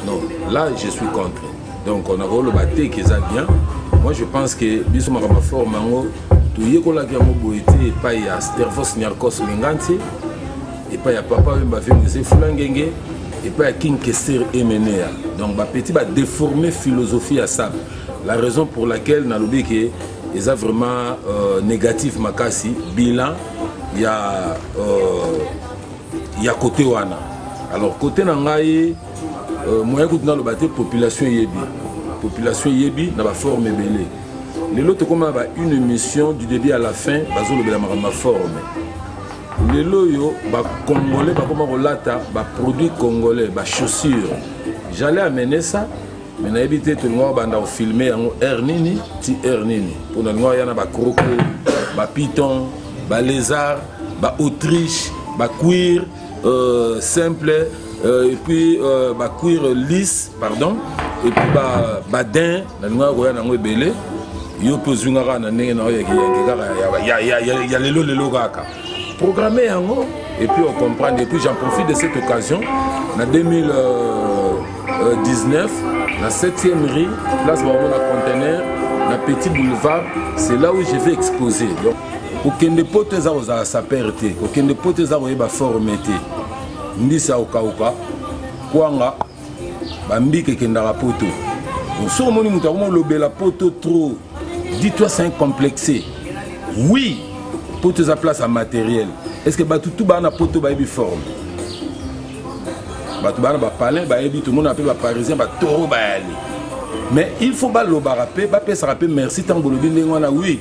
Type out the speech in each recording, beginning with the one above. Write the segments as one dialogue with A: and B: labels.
A: non là je suis contre donc on akoloba te que eza bien moi je pense que biso makambo ya forme yango toyekolaki yango boye te epai ya stervos niarcos mengantie epai ya papa oyo bavimuse fulangenge epai ya king kester emenea donc bapetit badeforme philosophie ya sable la raison pour laquelle nalobi ke eza vraiment euh, négatif makasi bilan ya euh, ya kote wana alors kote na ngai euh, moyen kutu naloba te population eyebi population eyebi na baforme ebele lelo tokoma ba une émission du début à la fin bazolobela makambo ma forme lelo oyo bacongolais bakoma kolata baproduit congolais bachaussure j'allais amener ça mais nayebi te tolingaka banda kofilme yango heure nini ti heure nini mpo nalingaka ya na bakroko bapiton balésard baautriche baquire euh, simple euh, epuis euh, baquire lisse pardon epuis badin nalingaka koya nango ebele yo mpe ozwi nga kaka na ndenge na yo ya kiyanke kaka ya lelo lelo kaka programme yango et puis on comprendre et puis j'en profite de cette occasion na 2019 na 7e rue place bango na conteneur na petit boulevard c'est là où je vais exposer donc kokende poto eza kozala sapere te kokende poto eza koyeba forme te mbisi ya kokauka kwanga bambika ekendaka poto soki omoni moto akoma olobela poto trop dis toi c'est un complexe oui poto eza place ya matériel est ce que bato tu baa na poto bayebi forme bato baa na bapalin bayebi tomona mpe baparisien batoro bayali mais il faut balobaka mpe bapesaka mpe merci ntango bolobi ndenge wana oui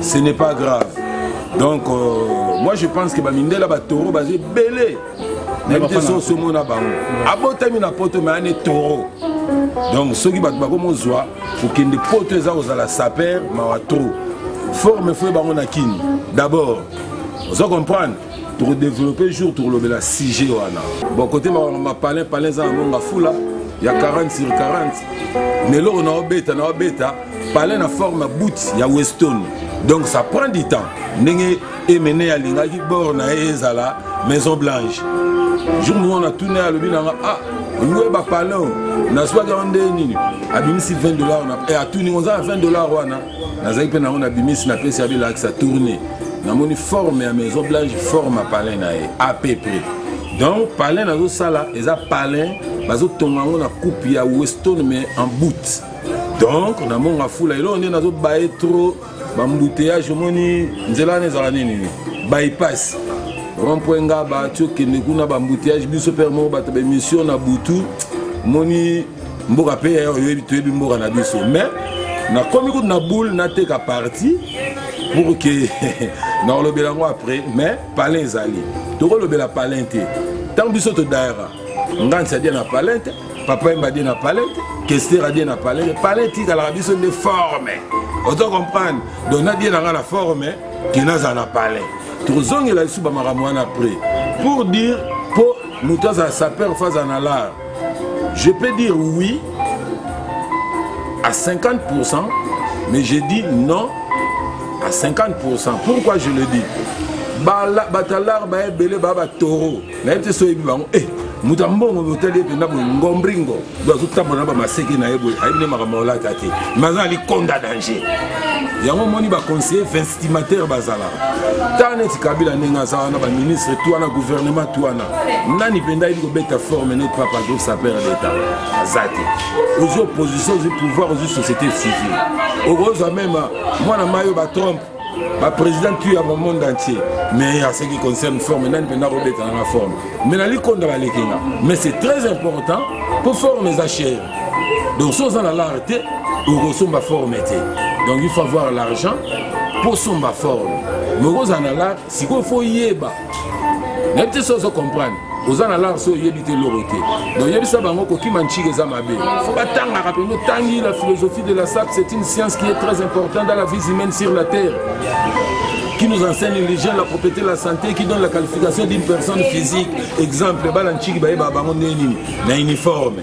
A: ce n'est pas grave donc euh, moi je pense que bamindela batoro baza ebele nayebi te so osomona bango abotami na poto me ane toro donc soki bato bakomozwa kokende poto eza kozala saper mawa trop forme foye bango na kini d'abord ozo comprendre tokodeveloppe jour tokolobela sujet wana bon kote mapalin palin eza na monga fula ya 40 sur 40 na eloko naobeta naobeta palais na forme boot ya weston donc ça prend du temps ndenge emene alingaki bor na ye ezala maison blanche jour moko na tuna ye alobi nanga ah oye bapalin nazwaki yango nde nini abimisi 20 dollar wana e eh, atuni ngo oza na 20 dollar wana nazalaki mpe nango nabimisi napesi ya bilakisa tourne namoni forme ya maison blanche forme ya palin na ye à peu près donc palin nazosala eza palin bazotonga yango na coupe ya weston mais en bout donc na monga fula eloko nde nazobaye trop bambuteyage omoni nzela wana ezala nini bypass rompwe nga bati okende kuna bambuteyage biso mpe moko bato baemission na butu moni mboka mpe toyebi mboka na biso mais nakomi kutu na boule nateka parti pour ke nakolobela yango après mais palin ezali tokolobela palin te ntango biso todayaka nganisa dia na palin te papa yemba die na palais te kester adie na palais te palais etikalaka biso nde forme ozo comprendre donc nadie na ngai na forme ke nazala na palais tokozongela lisusu bamakambo wana après pour dire mpo moto azala sapeur fa azala na lar je peux dire oui à 50 mais je dis non à 50 pourquoi je le dis bato ya lar baebele baa batoro nayebi te so oyebi bango e moto ya mbongo botali ye mpenza boye ngombringo do azotambola na bamaseke na ye boye ayebi nde makambo olata te ma aza alikonda danger yango omoni baconseiller vinstimateur bazalaka ntango neti kabila ndenge aza wana baministre to wana gouvernement to wana nani mpenza ayebi kobeta forme notre papa groupe sapeur d'état aza te ozwi opposition ozwi pouvoir ozwi société civile okozwa meme mwana mayo batrompe ba président tu ya monde entier mais ya ce qui concerne forme nani mpenza akobeta nanga forme mais nali konda baleki nga mais c'est très important mpo forme eza chere donc so oza na lare te okosomba forme te donc il faut avoir l'argent mpo osomba forme mais okozala na lare sikoyo fo yeba nayebi te soki ozo comprendre oza na lance oyo oyebi te eloko te donc yebisa bango kokima ncika eza mabe fo batangaka mpenza otangi la philosophie de la sap c'est une science qui est très importante dans la vie humaine sur la terre qui nous enseigne l'hygiène, la propriété, la santé, qui donne la qualification d'une personne physique. Exemple, Balanchiki Baye Babango Neni, na uniforme.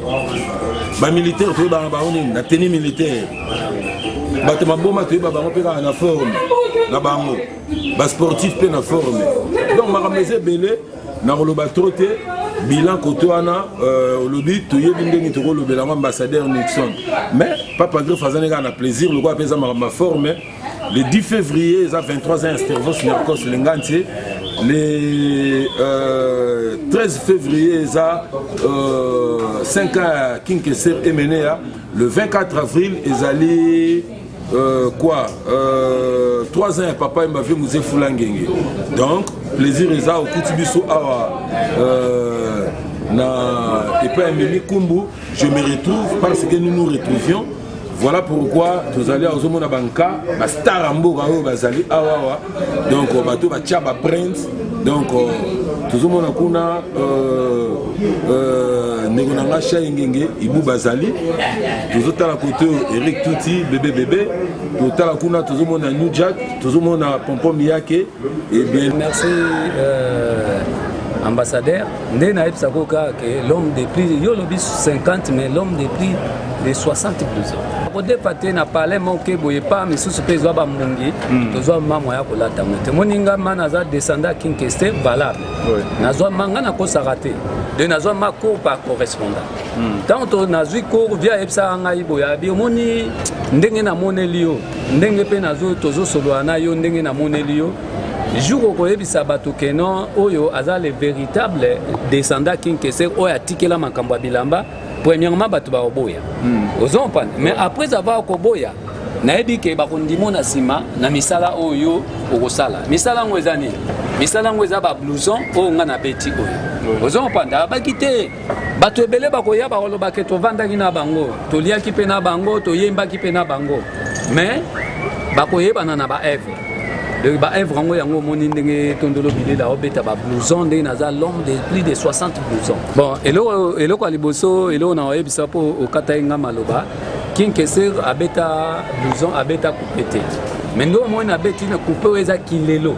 A: Ba militaire, Toye Babango Neni, na tenue militaire. Bato Maboma, Toye Babango Pekana na forme, na bango. basportif mpe na forme donc makambo eza ebele nakoloba tro te bilan kote wana euh, olobi toyebi ndenge tokolobela yango ambassadeur nixon mais papa greffe azani kaka na plaisir lokola mpe eza makambo ya forme le 10 février eza 23 ans estervos nercos lengantie le euh, 13 février eza euh, 5 ans ya kinkeser emenea le 24 avril ezali Euh, quoi euh, 3 ans ya papa yemba vie muze fula ngenge donc plaisir eza okuti biso awa euh, na epai ya mimi kumbu je me retrouve parce que nous nous retrouvions voilà pourquoi tozali awa ozomona banka bastar ya mboka oyo bazali awawa donc euh, bato batya baprinte donc euh, tozomona kuna euh, ndeko na ngai sha engenge ibu bazali tozotala kote eric tuti bebe bebe totala kuna tozomona new jack tozomona pompom yake ebien eh merci
B: ambassadeur nde nayebisa ko kaka ke l'homme de prix yo olobi 50 mais l'homme de prix de 60 plus kodepa te na palais moke boye pa misusu mpe ezwa bambongi hmm. tozwa mamwa ya kolata yango te moni nga ma naza descendant kinkeste valable nazwa ma nga nakosaka te de nazwa ma cour par correspondant hmm. ntango to nazwi cour via ayebisaka ngai boye abi omoni ndenge namoneli yo ndenge mpe tozosolola na yo ndenge namoneli yo jour okoyebisa bato ke non oyo aza le véritable descendant king keser oyo atikela makambo ya bilamba premièrement bato bakoboya hmm. ozo comprendre mais après avoir koboya nayebi ke bakondimo na nsima na misala oyo okosala misala yango eza nini misala yango eza bablouson oyo ngai nabeti oyo ozo comprendre abaki te bato ebele bakoya bakoloba ke tovandaki na bango toliaki mpe na bango toyembaki mpe na bango mais bakoyebana na baevre donc baevre yango yango omoni ndenge tondolo bilela obeta bablouson ndenge naza l'homme de plus de 60 blouson bon eloko, eloko ya liboso eloko na oyebisa mpo okataki nga maloba kinkeser abeta blouson abeta coupe te mais nde omoni abeti na coupe oyo eza kilelo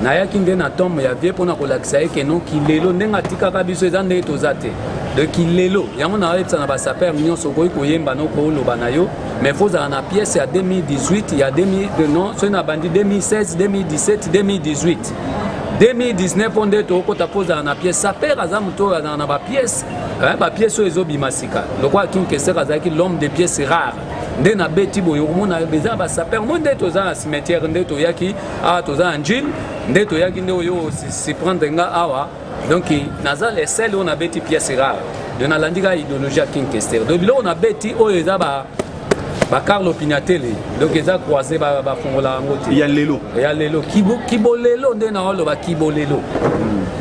B: nayaki nde na tombe ya vie mpo na kolakisa ye keno kilelo ndenge atikaka biso eza ndenge toza te de kilelo yango naoyebisa na basaper nyonso okoki koyemba no koloba na yo mais fo ozala na pièce ya 2018 ya 2000 non soki nabandi 2016 2017 2018 2019 mpo nde tokokota mpo ozala na pièce saper aza moto oyo azala na bapièce eh, bapièce oyo ezobima sika lokola kinkesere azalaki l'homme de pièce rare nde nabeti boye okomona eza basaper moi nde toza na cimetière nde toyaki awa toza na njili nde toyaki nde oyo siprendre nga awa donc naza le sel oyo nabeti pièce rare donc nalandi kaka idéologie ya king kester donc biloko nabeti oyo eza ba ba carlo pinatele donc eza croise bafongola yango te ya lelo ya lelo kibolelo nde naoloba kibolelo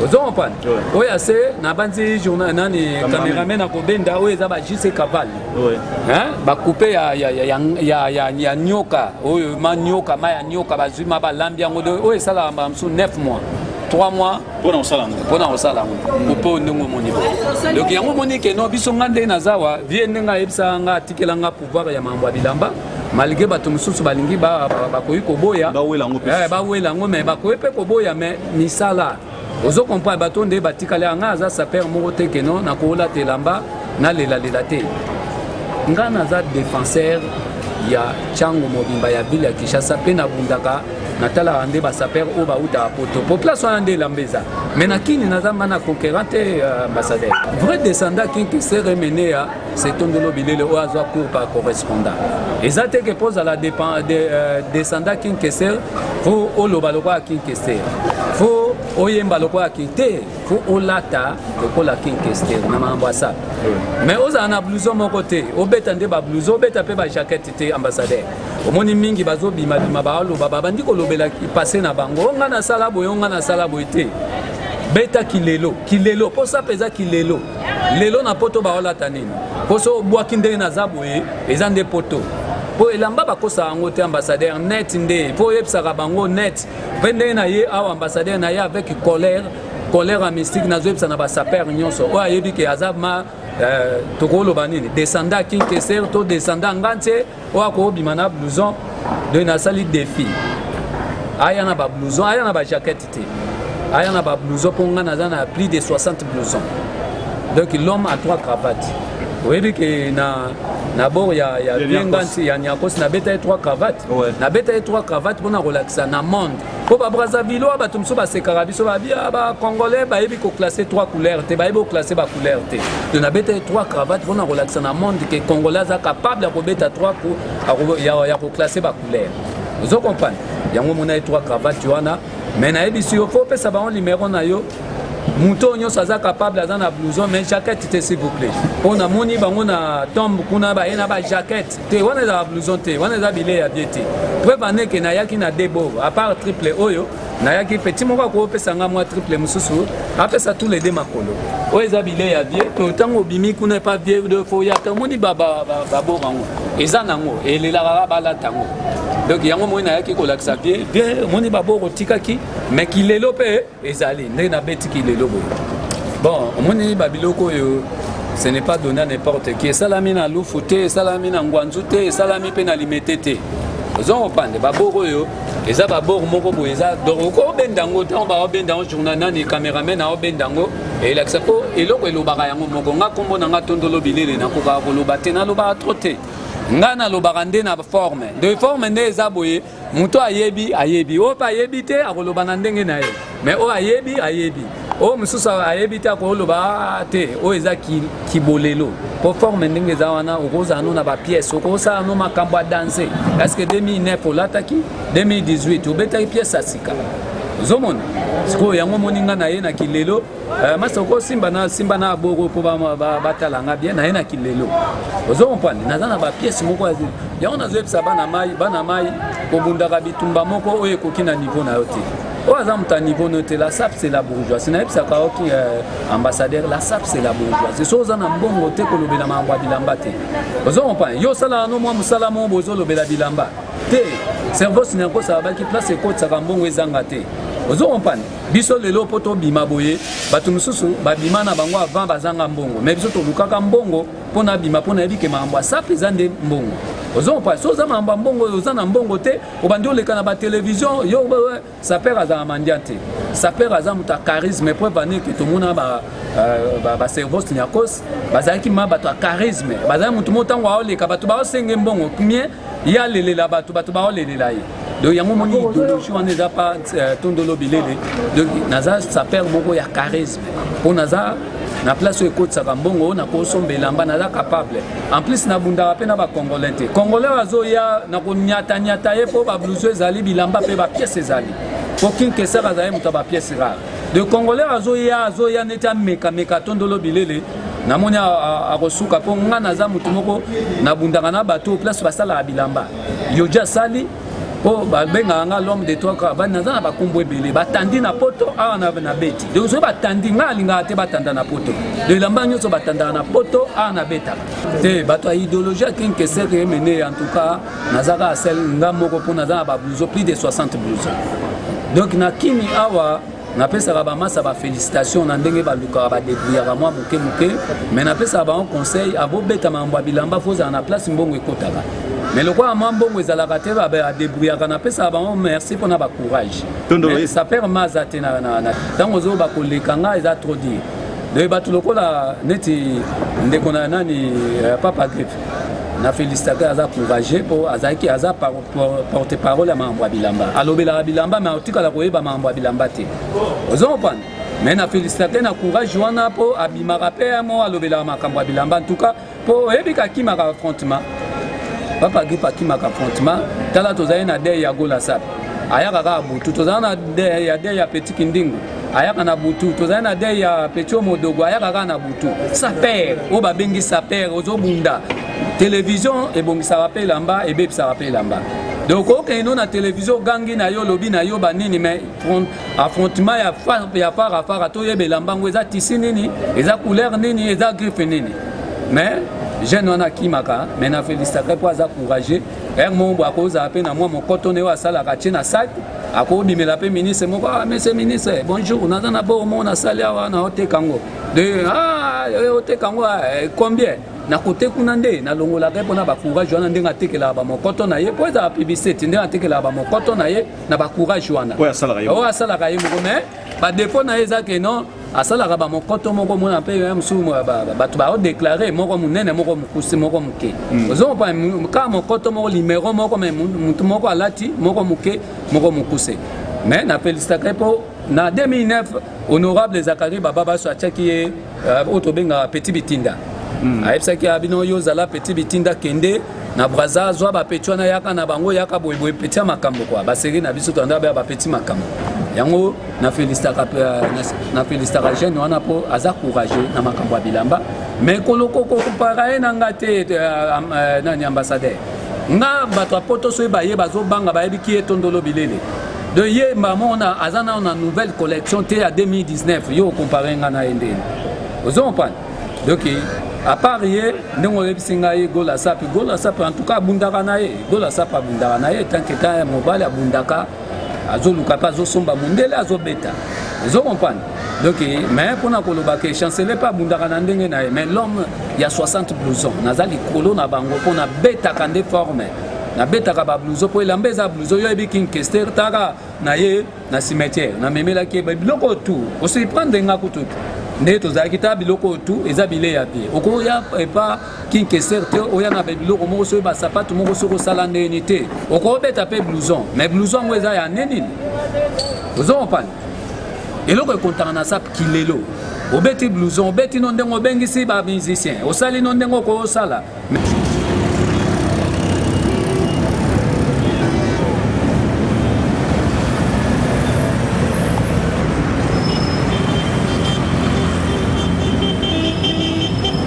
B: ozo comprendre oyo ase nabanzi journal nani cameraman akobenda oyo eza ba jc caval Oui. Hein? Ba coupe ya ya ya ya ya ya nyoka. Oyo ma nyoka, ma ya nyoka bazui ma ba lambi yango do. Oyo esala ba msu 9 mois. 3 mois pona osala ngo pona osala ngo opo ndenge omoni bo donc yango omoni ke no biso nga nde naza wa vie ndenge ayebisaka nga atikela nga pouvoir ya mambo ya bilamba malgré bato mosusu balingi bakoki koboya bawela yango me bakoki mpe koboya me misala ozo comprendre bato nde batikali anga aza sapeur moko te ke non nakolata elamba nalelalela te ngai naza défenseur ya ntango mobimba ya ville ya kinshasa mpe nabundaka natalaka nde basapere oyo bautaka poto po place wana nde elamba eza mai na kini naza mba na conquérant te euh, ambassadeur vrai descendant kinki sere meneya se tondolo bilele oyo azwa cour par correspondant eza te ke mpo ozala de, euh, descendant kinkester fo oloba lokola kinkester fo oyemba lokola ki te fo olata lokola kinkester na makambo asala mais ozala na blouson moko te obeta nde bablouson obeta mpe bajakete te ambassadeur omoni mingi bazobimabima baoloba babandi kolobela passe na bango o ngai nasala boye o ngai nasala boye te beta kilelo kilelo mposa mpenza kilelo lelo na poto baolata nini mpo so obwaki ndenge naza boye eza nde poto mpo elamba bakosaka yango te ambassadeur net nde mpo oyebisaka bango net mpe ndenge na ye awa ambassadeur na ye avec colère colère mystique nazoyebisa na basaper nyonso oyo ayebi ke aza ma euh, tokoloba nini descenda kinkeser to descenda ngantie oyo akobima na blouson donc nasali défi aya na ba blouson aya na ba jaquette te aya na ba blouson mpo ngai naza na plus de 60 blouson donc l'homme a trois cravates oyebi ke na na bord ya ya Ya Niakos. vienganti ya niakos nabeta ye trois cravates Ouais. nabeta ye trois cravates mpo na kolakisa na monde mpo ba brazzavillois bato mosusu basekaka biso babia ba congolais bayebi koclasse trois couleur te bayebi koclasse ba couleur te to nabetaki trois cravate mpo na kolakisa na monde ke congolais aza capable ya kobeta trois ya koclasse ba couleur ozo comprendre yango omonaki trois cravate wana mais nayebisi yo fo opesa bango limero na yo moto oyo nyonso aza capable aza na blouson mais jaquette te s'il vous plaît mpo namoni bango na tombe kuna baye na ba jaquette te wana ezala blouson te wana eza bilei ya bie te preuve ane ke nayaki na debo apart triple oyo nayaki petit moko akopesa nga mwa triple mosusu apesa tous les deux makolo oyo eza bilei ya bie to ntango obimi kuna epa bie de fo ya tomoni baboma yango eza nango elelaka balata yango donc yango moi nayaki kolakisa bie bie omoni baboko otikaki me kilelo mpe ezali ndenge nabetiki lelo boye bon omoni babiloko oyo ce n'est pas donné à n'importe qui esalami na lufu te esalami na ngwanzu te esalami mpe na limete te ozo kopande babor oyo eza babor moko boye eza donc okobenda yango ntango baobenda yango journal nani cameraman aobenda yango elakisa mpo eloko elobaka yango moko nga nkombo na nga tondolo bilele nakokaka koloba te nalobaka trop te ngai nalobaka nde na forme de forme nde eza boye moto oyo ayebi ayebi oyo mpe ayebi te akoloba na ndenge na ye mais oyo ayebi ayebi oyo mosusu ayebi te akoloba ah, te oyo eza kibolelo mpo forme ndenge eza wana okozala no na bapiese okosala no makambo ya danse parceke 2009 olataki 2018 obetaki piese ya sika ozomona sikoyo yango omoni nga na ye na kilelo Euh, masa okosimba na simba na boko mpo batala nga bien naye na kilelo ozo comprendre naza na bapiese moko ya yango nazoyebisa bana mai bana mai kobundaka bitumba moko oyo ekoki na niveau na yo te oyo aza moto ya niveau no te la sap c'est la bourgeoisie nayebisaka oki euh, ambassadeur la sap c'est la bourgeoisie so oza na mbongo te kolobela makambo ya bilamba te ozo comprendre yo osalaka no mwa mosala moko bozolobela bilamba te cerveau sinakosa abaki place ekotisaka mbongo ezanga te ozo comprendre biso lelo mpo tobima boye bato mosusu babima na bango avant bazanga mbongo mai biso tolukaka mbongo mpo nabima mpo nayebi ke makambo asape eza nde mbongo ozo comprendre so oza makambo ya mbongo oyo oza na mbongo te obandi oleka na batelevizio yo saper azala mandian te saper aza moto ya charisme po evani ke tomona baservos euh, ba, ba nyakos bazalaki ma bato ya charisme bazalaki moto mo ntango aoleka bato baosenge mbongo mie ye alelela bato bato baolelela ye donc yango omoni idéologie wana eza pa euh, tondolo bilele donc naza saper moko ya charisme mpo naza na place oyo ekotisaka mbongo oyo nakosomba elamba naza capable en plus nabundaka mpe na bacongolais te congolais oyo azoya na konyatanyata ye mpo babluso ezali bilamba mpe bapiese ezali mpo kinkesaka azali moto ya bapiese rare de congolais azoya azoya neti amekameka tondolo bilele namoni akosuka mpo ngai naza motu moko nabundaka na bato oyo place basalaka bilamba yoja asali mpo babengaka ngai l'homme de trois cravane naza na bakombo ebele batandi na poto awa na beti donc soki batandi ngai alingaka te batanda na poto do elamba nyonso batandaka na poto awa na betaka te bato ya idéologie ya king keser emene en tout cas naza kaka sel ngai moko mpo naza na bablouson plus de 60 blouson donc na kimi awa napesaka bamasa bafélicitation na ndenge balukaka badebrouillaka mwa moke moke mais napesaka bango conseil abobeta makambo ya bilamba fo ozala na place mbongo ekotaka mais lokola mwa mbongo ezalaka te badebrouillaka napesaka bango merci mpona bacourage saper ma aza te ntango ozo bakoleka ngai eza trop dire donc bato lokola neti ndeko na nani euh, papa gripe na félicitaka aza courage mpo azalaki aza porte parole ya makambo ya bilamba alobelaka bilamba me atikala koyeba makambo ya bilamba te ozo comprendre me na felicitate na courage wana mpo abimaka mpe yango alobelaka makambo ya bilamba ntuka mpo oyebi kakimaka affrontement papa gripe akimaka affrontement tala tozali na dei ya golasap ayaka kaka butu tozala na dei ya dei ya petit kindingu ayaka na butu tozali na dei ya petio modogo ayaka kaka na butu sapere oyo babengi sapere ozobunda televizio ebongisaka mpe elamba ebebisaka mpe elamba donc okei no na televizio ogangi na yo olobi na yo banini mai affrontement ya fara fara toyeba elamba yango eza tisi nini eza couleur nini eza griffe nini mais jeune wana akimaka mai na felisitaka mpo aza courageux un moment boye akozala mpe na mwa mokoto na ye oyo asalaka atie na sak akobimela mpe ministre moko ah monsieur ministre bonjour naza na bor moko nasali awa na oteka yango de ah eh, oteka yango ah, eh, combien nakote kuna nde nalongolaka ye mpona bacourage wana ndenge atekelaka bamokoto na ye mpo ezala publicité ndenge atekelaka bamokoto na ye na bacourage wana oyo asalaka
C: ye moko mais
B: badefaut na ye eza ke non asalaka bamokoto moko omona mpe ya mosusu bato baodeklare moko monene moko mokuse moko moke hmm. ozompa kaka mokoto moko limero moko me motu moko alati moko moke moko mokuse me na felisitaka ye mpo na 2009 honorable zakari baba baso atiaki ye euh, oyo tobengaka petit bitinda hmm. ayebisaki ya bino yo ozala petit bitinda kende na braza zwa bapeti wana yaka na bango yaka boyeboye peti ya makambo kua baseri na biso tanda bapeti makambo yango na felicitaka na felicitaka jeune wana mpo aza courageux na makambo ya bilamba mais kolokokokopaka ye na nga te nani ambassadeur nga bato ya poto soki baye bazobanga bayebi ki ye tondolo bilele de ye mbamona aza nao na nouvelle collection te ya 2019 yo okompare nga na ye ndeni ozo kompane donc apart ye ndenge oyebisi ngai gola sapi gola sapi en tout cas abundaka na ye gola sapi abundaka na ye tanke ta mobali abundaka azoluka mpe azosomba mundele azobeta ezo comprendre donc mais mpona koloba ke chancele mpe abundaka na ndenge na ye mais l'homme ya 60 blouson naza likolo na bango mpo nabetaka nde forme nabetaka bablouzo mpo elamba eza blouzo yo yebi king kester taka na ye na cimetière namemelaki ye biloko oyo tu osurprendre nga kutu nde tozalaki ta biloko oyo tu eza bilei ya vie okoya epa king keser te oya na biloko moko soki basapatu moko soki osala ndeni te okobeta mpe blouson mais blouson yango eza ya nde nini ozo kompane eloko ekontana na sap kilelo obeti blouson obeti no ndenge obengisi ba musicien osali no ndenge okosala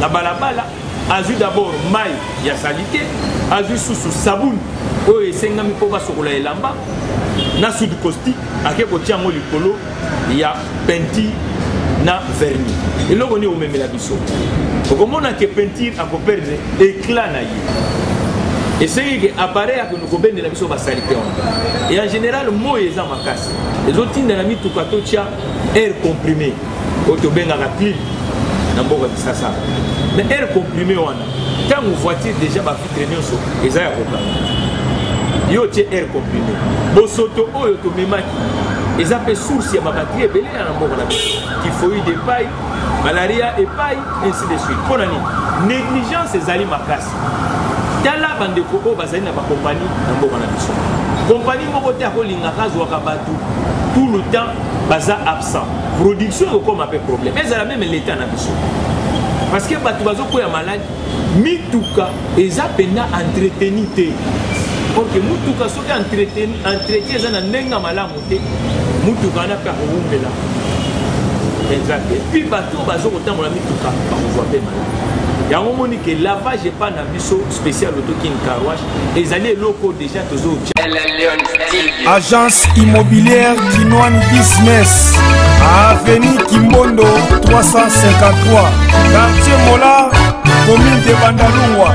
D: na balabala azwi dabord mai ya salite azwi susu sabuni oyo esengami mpo basokola elamba na sud costi ake kotia yango likolo ya peinture na verni eloko nini omemela biso okomona ke peinture akoperdre éclat na ye esengi ke appareil akende kobendela biso basalite wana e en général moi eza makasi ezotinda na mituka totya air comprime oyo tobengaka clip na mboka kisasa na air comprime wana ntango voiture déjà bafitre nyonso eza ya kokanga yo otie air comprime bosoto oyo tomemaki eza mpe source ya babatri ebele na mboka na biso tifoide epai malaria epai ainsi de suite mpo na nini négligence ezali makasi tala bandeko oyo bazali na bakompani na mboka na biso kompani moko te akolingaka azwaka bato tout le temps baza absent production ekokoma mpe problème ezala meme l'état na biso parce que bato bazokwea maladi mituka eza mpenza entreteni te orke motuka soki entretien eza na ndenge ya malamu te motuka wana mpe akowumela mpenza te mpi bato oyo bazo kotambola mituka bakozwa mpe maladi yango omoni ke lavage epai na biso spécial otoking carwash ezali eloko deja tozo
C: agence immobilière kinoine business avenue kimbondo 353 quartier mola commune de bandalungwa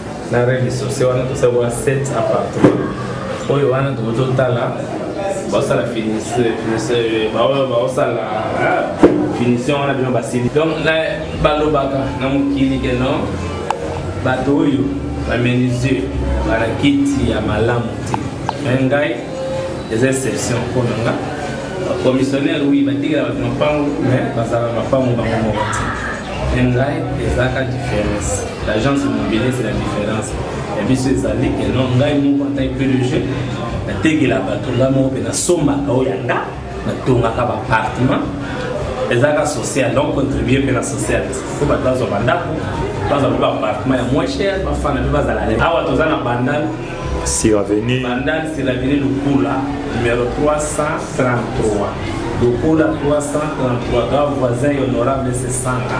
D: na rez-de-chaussée wana tosali wana 7 appartement oyo wana tokoki totala basala baoyo baosala finition wana bino basili donc balobaka na mokili ke non bato oyo bamenisier bana kiti ya malamu te me ngai eza exception mpo na nga commissionnaire wi batikela bato mapango me bazala mapango bango moko te ngai ezalaka différence l'agence immobilier c'est la différence ya biso ezali que non ngai moko en tant que pdg natekela bato ngai moko mpe nasombaka oyo ya nga natongaka baappartement ezalaka social donc contribue mpe na social po bato bazwa bandako bazwa mpe baappartement ya moins cher bafana mpe bazala awa toza na bandal sur avenue
E: bandal sur avenue
D: lukula numero 300 33 lokola 333 ga voisin ya honorable sesanga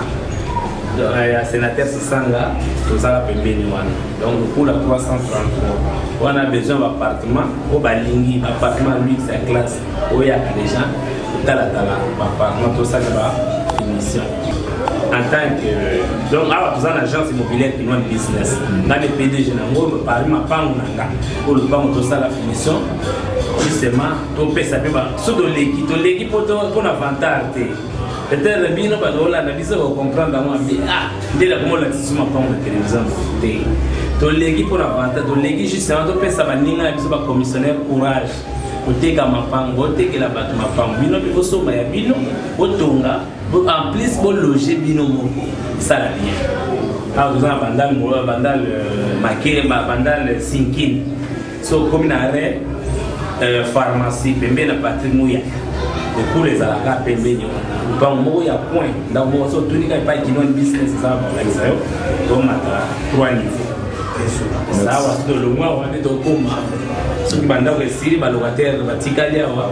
D: ya sénateur sesanga tozala pembeni wana donc lokola 333 wana besoin baappartement oyo balingi baappartement luxe ya classe oyaka déjà kotalatala baappartement tosala ba émission en tant que donc awa toza na agence immobilière kinoine business nga nde pdg nango parmi mapango na nga oyo lopango tosala finition justement topesa mpe so toleki toleki mpo na vantar te peut-être bino bato olanda biso bocomprendre yango ambi ah nde nakoma olakisa so mapango na télévision te toleki mpo na vantar toleki justement topesa baninga na biso bacommissionnaire courage koteka mapango botekela bato mapango bino mpe bosomba ya bino botonga en plus bologe bino moko esala bien awa toza na bandal bandal euh, makeba bandal sinkini so okomi na re euh, pharmacie pembeni na patri muya ekulu ezalaka pembeni wana lupango moko ya coin ndako moko so otuni kaka epai kinoni business eza bakolakisa yo tomata trois niveau sawa soki tolongwa wana nde tokoma soki bandako esili balocataire batikali awa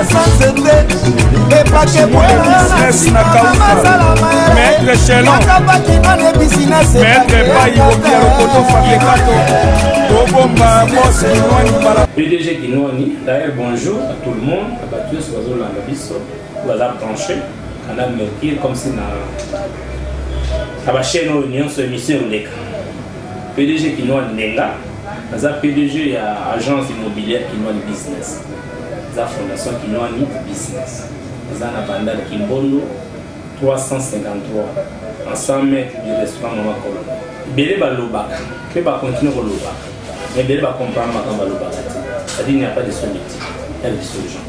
E: sansete
C: epakebweaaa pdg kinwani
D: d'ailleurs bonjour à tout le monde bato nyonso bazolanda biso baza branche canal mercure comme si na na bachaîne oyo nyonso émission ekoleka pdg kinwani nenga
F: naza pdg ya agence immobilière kinwani business eza fondation kinoani business eza na bandal kimbondo 353 en 100 mètres du restaurant mama kolo ebele balobaka mpe bakontinue kolobaka mais ebele bacomprendre makambo balobaka te c'est-à-dire n'y a pas de solitude ya biso gens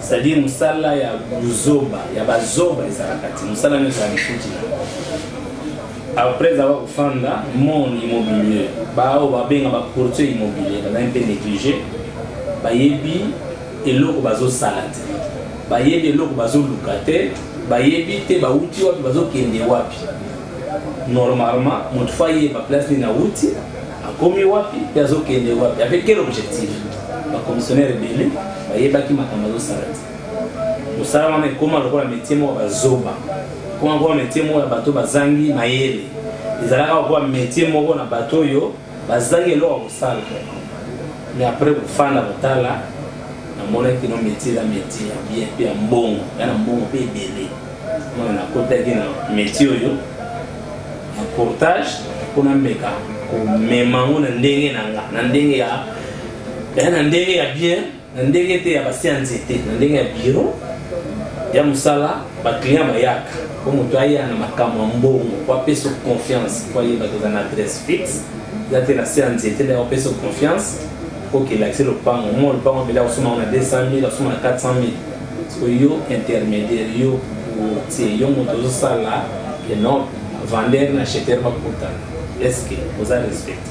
F: c'est-à-dire mosala ya buzoba ya bazoba ezalaka te mosala nyonso ya lifuti na Après avoir kofanda mon immobilier, baoyo babenga ba courtier immobilier bazali mpe neglige, bayebi eloko bazosala te, bayebi eloko bazoluka te, bayebi te bawuti wapi bazokende wapi. Normalement moto faut ayeba place nini awuti, akomi wapi mpe azokende wapi, avec quel objectif? Ba commissionnaires ebele bayebaki makambo bazosala te. mosala wana ekoma lokola metie moko bazoba ekoma lokola metie moko ya bato bazangi mayele ezalaka lokola metie moko na bato oyo bazangi eloko ya kosala me apres kofanda kotala namonaki kino metie eza metie ya bien mpe ya mbongo ya na mbongo mpe ebele wana nakotaki na metie oyo ya portage mpo nameka komema yango na ndenge na nga na ndenge ya na ndenge ya bien na ndenge te ya basi ya nzete na ndenge ya biro ya mosala baclient bayaka mpo moto aya na makambo ya mbongo po apesa confiance po ayeba toza na adresse fixe eza te na se ya nzete nde akopesa confiance okelakisi lopango mo lopango mbele akosoma ngo na 200 000 akosoma na 400 000 siko yo intermédiaire yo tie yo moto ozosala enorme vendeur na acheteur bakutana eske oza respecte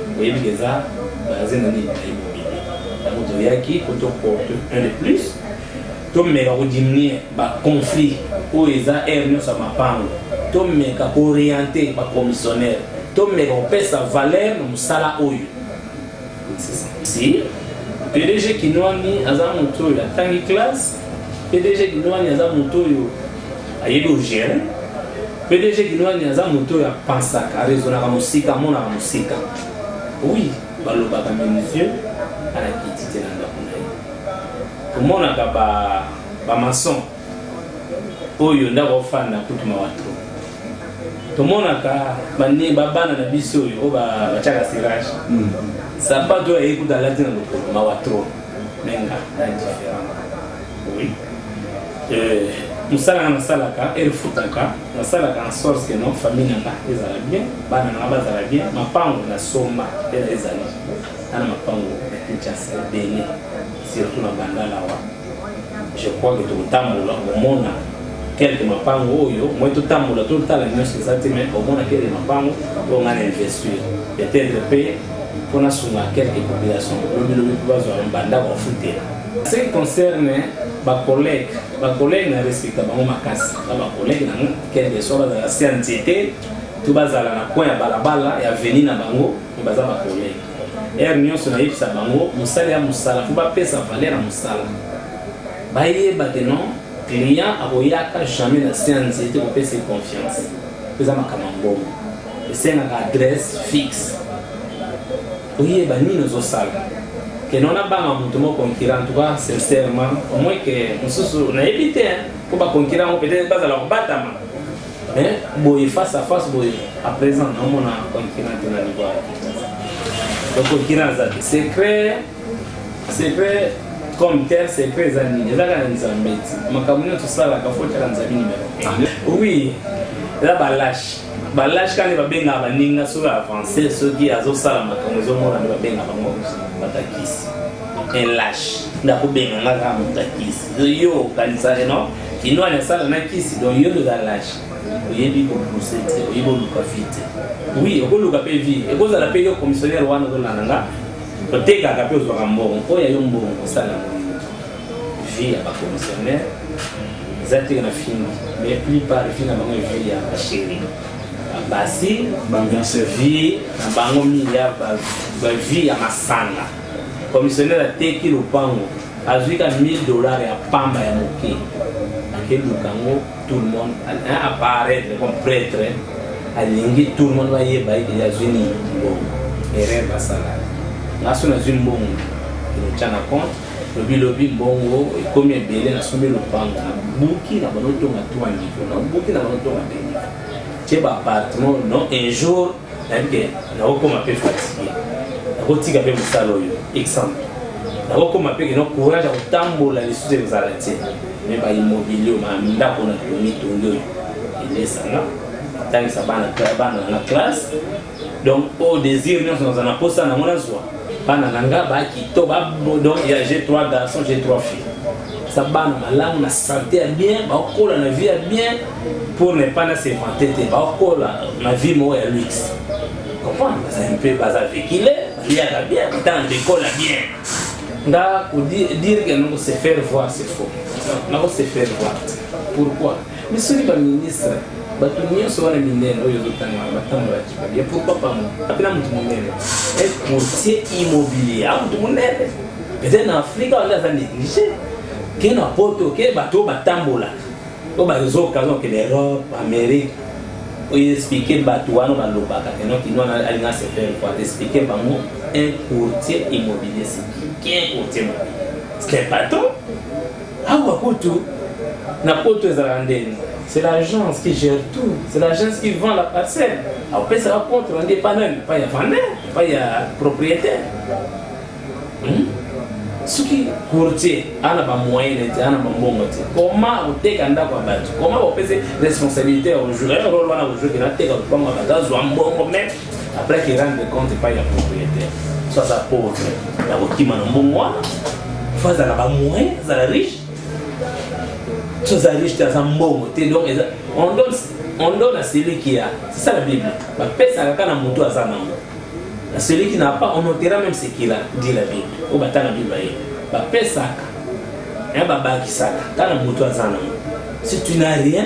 F: Boyebi dejà magasin na nini naye bobimi. Yango toyaki po to porte un de plus tomeka ko diminuer ba conflits oyo eza heure nyonso ya mapango tomeka ko orienter ba commissionnaire tomeka kopesa valeur na mosala oyo si pdg kinwani aza moto oyo atangi classe PDG Kinwani aza moto oyo ayebi ogere PDG Kinwani aza moto oyo apansaka arezonaka mosika amonaka mosika oui balobaka menuisier alakiti te na ndako na ye omonaka bamason oyo ndako ofanda kutu mawa tro tomonaka babana na biso oyo oyo batyaka sirage hmm. sapato oyo ayekuta alati na lokolo mawa tro mais nga na différent oui euh, mosala nga nasalaka erefutaka nasalaka en sorte que non famille na nga ezala bien bana na nga bazala bien mapango nasomba mpe na ezali ana mapango ya kinshasa ebele surtout na bandalawa je crois que tokotambola komona quelque mapango oyo moi totambola totala nyonso eza te mais omona quelque mapango oyo ngai na investir peut-être mpe mpo nasunga quelque population lobilobi mpo bazwa bandako bafutela ce qui concerne bacollègue bacollègue na respecta bango makasi na bacollègue nango quelque soit bazala se ya nzete to bazala na coin ya balabala ya veni na bango me baza bacollègue ere nyonso nayebisa bango mosala ya mosala mpo bapesa valeur ya mosala bayeba te non client akoyaka jamais na se ya nzete kopesa confiance eza makambo ya mbongo esengaka adresse fixe oyeba nini ozosala ke nona banga moto mo concurrent tout cas sincèrement au moins ke mosusu nayebi te mpo baconcurrent yango peut-être bazala kobatama mais boye face à face boye à présent naomona concurrent te na niveau donc concurrent aza te secret secret comme tel secret eza nini eza kaka nzambe ti makambo nyonso osalaka fo tyaka nzambe numero ah. oui eza balache balage kani babengaka baninga soki avance soki azosala makambo ezomona nde babengaka bango batakisi elage ndakobenga nga kaka motakisi yo okanisaka eh, no kinwani asala na kisi don yo toza lage oyebi kopuse te oyebi oluka vi te wi okoluka mpe vi ekozala mpe yo commissionnaire wana ozolanda nga otekaka mpe ozwaka mbongo oyo ya yo mbongo osala vie ya ba commissionnaire eza te na film mais plus par vie na bango vie ya ba chéri basi vie na bango mingi ya ba vie ya masanga commissionnaire ateki lopango azwi ka 1000 dollars ya pamba ya moke akeluka yango tout le monde apparaître comme prêtre alingi tout le monde bayeba ye deja azwi nini mbongo erreur basala nga so nazwi mbongo elotyana compte lobi lobi mbongo ekomi ebele na somi lopango na buki na bano tonga tua niveau na buki na bano tonga te niveau tie ba appartement non un jour nayebi ke nakokoma mpe fatigue nakotika mpe mosala oyo exemple nakokoma mpe keno courage ya kotambola lisusu ezala te me baimmobilier oyo mandako na tomitongi oyo elesanga tangisa bana na classe donc o désir nyonso naza na posa nango nazwa bana na nga bakito donc ya g 3 garçon g 3 fille sa bana malamu na sante ya bien baokola na vie ya bien pour ne pas na sevante te baokola na vie moko ya luxe comprendre baza mpe baza vekile baliaka bien batanga ndekola bien nga kodire ke nako se faire voir c'est faux nako se faire voir pourquoi Mais soki ba ministre bato nyonso wana minene oyo ezotanga wana batambolaki babia pourquoi pas moi apena moto monene un courtier immobilier a moto monene peut-être na afrika wana aza négligé ke na poto ke bato oyo batambolaka oyo bazokanga okende europe amérique oyo explike bato wana balobaka keno kino wana alinga se faire quoi explike bango un courtier immobilier c'est qui un courtier immobilier c'est un patron Awa kutu na poto ezalaka ndeni c'est l'agence qui gère tout c'est l'agence qui vend la parcelle apesaka compte rendu epa nani epa ya vendeur epa ya propriétaire hmm? soki courtier ana bamoyene te ana bambongo te koma koteka ndako ya bato koma kopesi responsabilité ya ojur ya role wana ojur kena teka lopango ya bato azwa mbongo meme après ki rendre compte epai ya propriétaire so aza pauvre ya kokima na mbongo wana fo azala bamoyen azala riche so aza riche te aza mbongo te donc on donne on donne à celui qui a c'est ça la bible bapesaka kaka na motu aza nango na celui qui n'a pas on notera même ce qu'il a dit la bible oyo batanga bible baye bapesaka ya babakisaka kaka na motu aza nango si tu n'as rien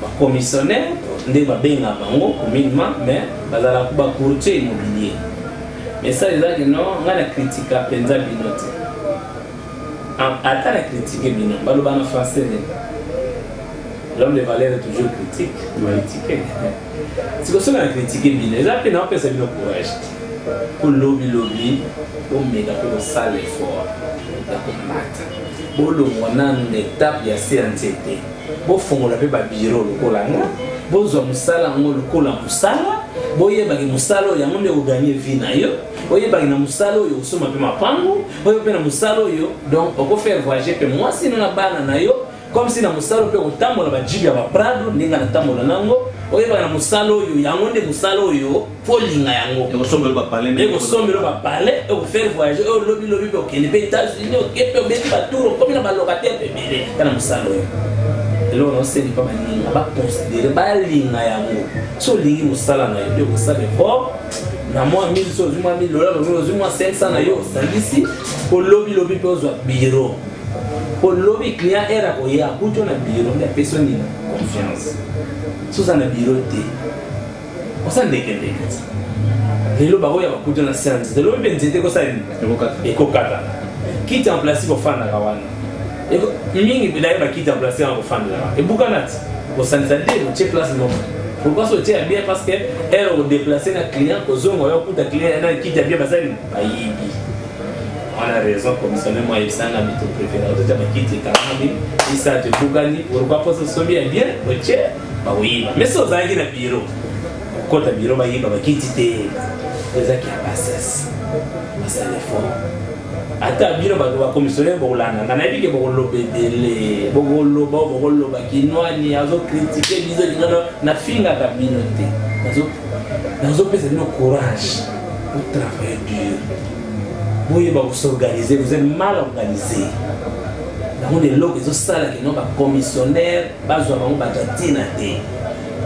F: Ba commissionnaires nde ba benga bango communement mais bazala ba courtier immobilier. Message eza que non nga na critika penza bino te. Ata na critique bino baloba na français nini? L'homme de valeur est toujours critique, critique. Siko soki na critique bino eza mpe naopesa bino courage mpo lobi lobi omeka mpe kosala effort ya komata bolongwa nanu na etape ya se ya nzete bofongola mpe babiro lokola nga bozwa mosala yango lokola mosala boyebaki mosala oyo yango nde oganie vi na yo oyebaki na mosala oyo osomba mpe mapango oyo mpe na mosala oyo donc okofaire voyage mpe mwasi no na bana na yo comme si na mosala mpe okotambola bajibi ya baprado ndenge natambola nango oyebaka na mosala oyo yango nde mosala oyo kolinga yango
G: ekosombelo
F: bapale ekofaire voyage oyo lobilobi mpe okende mpe états-unis oke mpe obeti batour okomi na balocataire mpe ebele mpe na mosala oyo eloko naosengi mpa baninga baconsidere balinga yango so olingi mosala na yo mpe okosala effort na mwa 1000 so ozwi mwa 1000 dola ozwi mwa 500 na yo osangisi mpo lobilobi mpe ozwa biro mpo lobi client ere akoye akuti yo na biro nde apesi yo nini confiance soza na biro te oza ndeke ndeke lelo bakoya bakuta na se ya nzete lobi mpe nzete ekosala nini ekokata kiti en plastique ofandaka wana mingi bilaye bakiti en plastique yango ofandaka ebukana ti osanisa nde otie place moko pourquoi so otie ya bien parce que ere odeplace na client ozonga oyo okuta client na kiti ya bien baza nini bayibi wana raison commissionnaire mwa yebisanga bito préféré ototia bakiti ekanami isatu ebukani pourquoi mposo sobi ya bien otie bakoyiba mais so ozalaki na biro okota biro bayiba bakiti te eza kia bassesse basalefo ata bino bato bakomisionere bokolanda nga nayebi ke bokoloba ebele bokoloba bokoloba kinwani azokritike bizo lingano nafingaka bino te nazopesa bino courage botravaille dur boyeba kosorganize vous êtes mal organise yango na eloko ezosala kino bakomisionere bazwa bango bato ya ntina te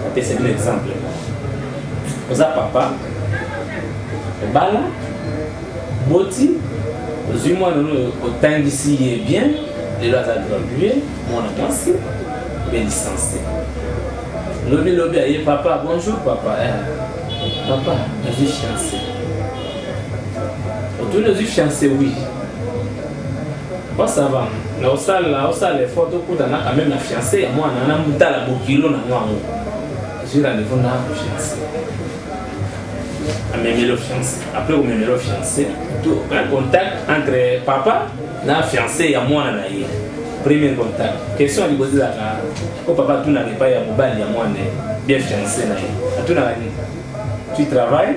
F: apesa bino exemple oza papa obala boti ozwi mwana oyo otangisi ye bien lelo aza gradue mwana mwasi mpe license lobi lobi aye papa bonjour papa eh. papa nazwi fiance otuni ozwi fiance wi oui. Moi ça va, na osala osala effort to kuta na quand même na fiancé ya moi na na mutala bokilo na moi ngo. J'ai rendez-vous na fiancé. Amemeli au fiancé. Après omemeli au fiancé, tout un contact entre papa na fiancé ya moi na ye. Premier contact. Question du côté là, ko papa tout na pas ya mobali ya moi bien fiancé na ye. Tout na tu travailles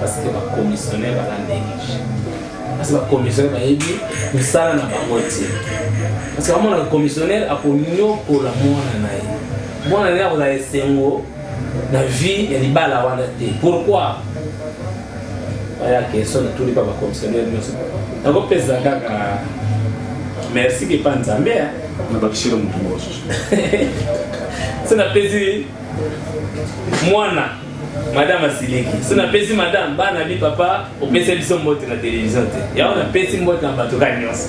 F: parce que ba commissionnaire baza néglige parce que ba commissionnaire bayebi mosala na bango te parce que bamona commissionnaire akonyokola mwana na ye mwana na ye akozala esengo na vie ya libala wana te pourquoi aya question natuli mpa bacommissionnaire nyonso nakopesa kaka merci kepa nzambe nabakisela motu mosusu se napesi mwana madame asiliki so napesi madame bana bi papa opesa biso mbote na televizio te yango napesi mbote na bato ka nyonso